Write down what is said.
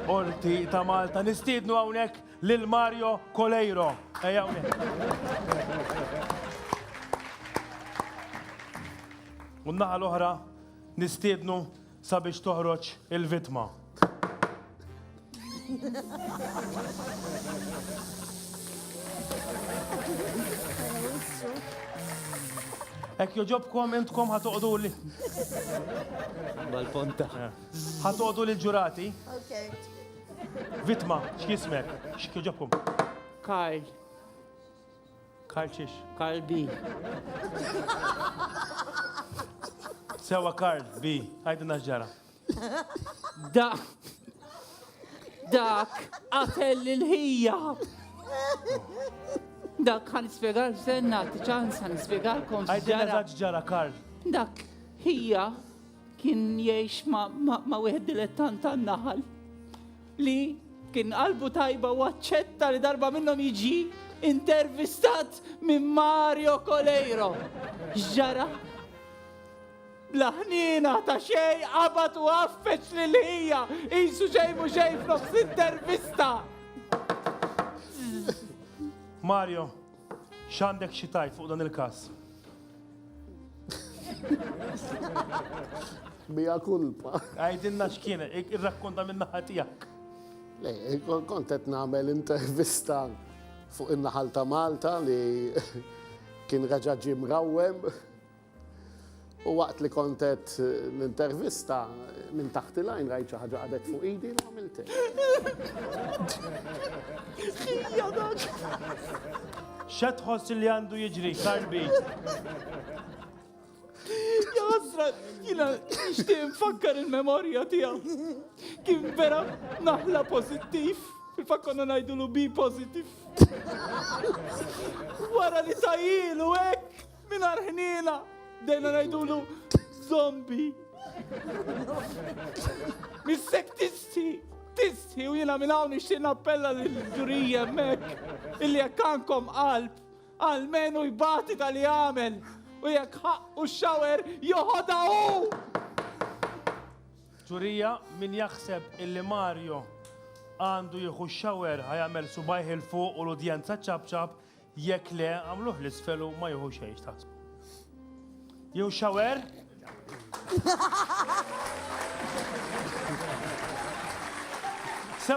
Qorti ta' Malta. Nistiednu hawnhekk lil Mario Coleiro. Ejja hawnhekk. U naħa l-oħra nistiednu sabiex toħroġ il-vitma. Ek joġobkom intkom ħatoqdu li. Mal-ponta. Ħadd għodu lil ġurati. Vitma, x'jismek? X'kieġobkom? Karl. Karl xiex? Karl B. Sewa Karl B. Għajdu naġġara. Da. Dak qatel il-ħija. Dak għan ispiegal senna, t-ċans għan ispiegalkom. Għajdu naġġara Karl. Dak ħija Kien jgħix ma' wieħed dilettant tan-naħal li kien qalbu tajba u aċċetta li darba minnhom jiġi intervistat minn Mario Coleiro. Ġara Laħnina ta' xej qabat u għaffeċ li l-ħija jisu xej mu xej f'nofs intervista. Mario, X'għandek xi tgħid fuq dan il-każ? Mija kulpa. Għajdinna x'kien, irrakkonta minn naħa tiegħek. Le, kont qed nagħmel intervista fuq in-naħal ta' Malta li kien raġaġi mrawwem. U waqt li kont qed l-intervista minn taħt il-għajn rajt xi ħaġa qadet fuq idi u għamilt Xa tħoss li għandu jiġri, karbi? Jasra, jina nishtiq nfakkar il-memorja tijaw. Kien vera naħla pozittif. Il-fat konna najdu l-bi pozittif. Wara li tajilu, ek! Mingħajr ħniena bdejna ngħidulu zombi. Missek tisti, tisti u jiena minn hawn nixtieq nappella lill-ġurija hemmhekk illi jekk għandkom qalb għalmenu jbati tal-li għamel u jekk ħaqqu xawer joħodha hu. Ġurija, min jaħseb illi Mario għandu jieħu xawer ħajamel subajħ il-fuq u l-udjenza ċabċab Jekk le, għamluh l-isfel u ma jieħu xejn x'taħsbu. Jew xawer?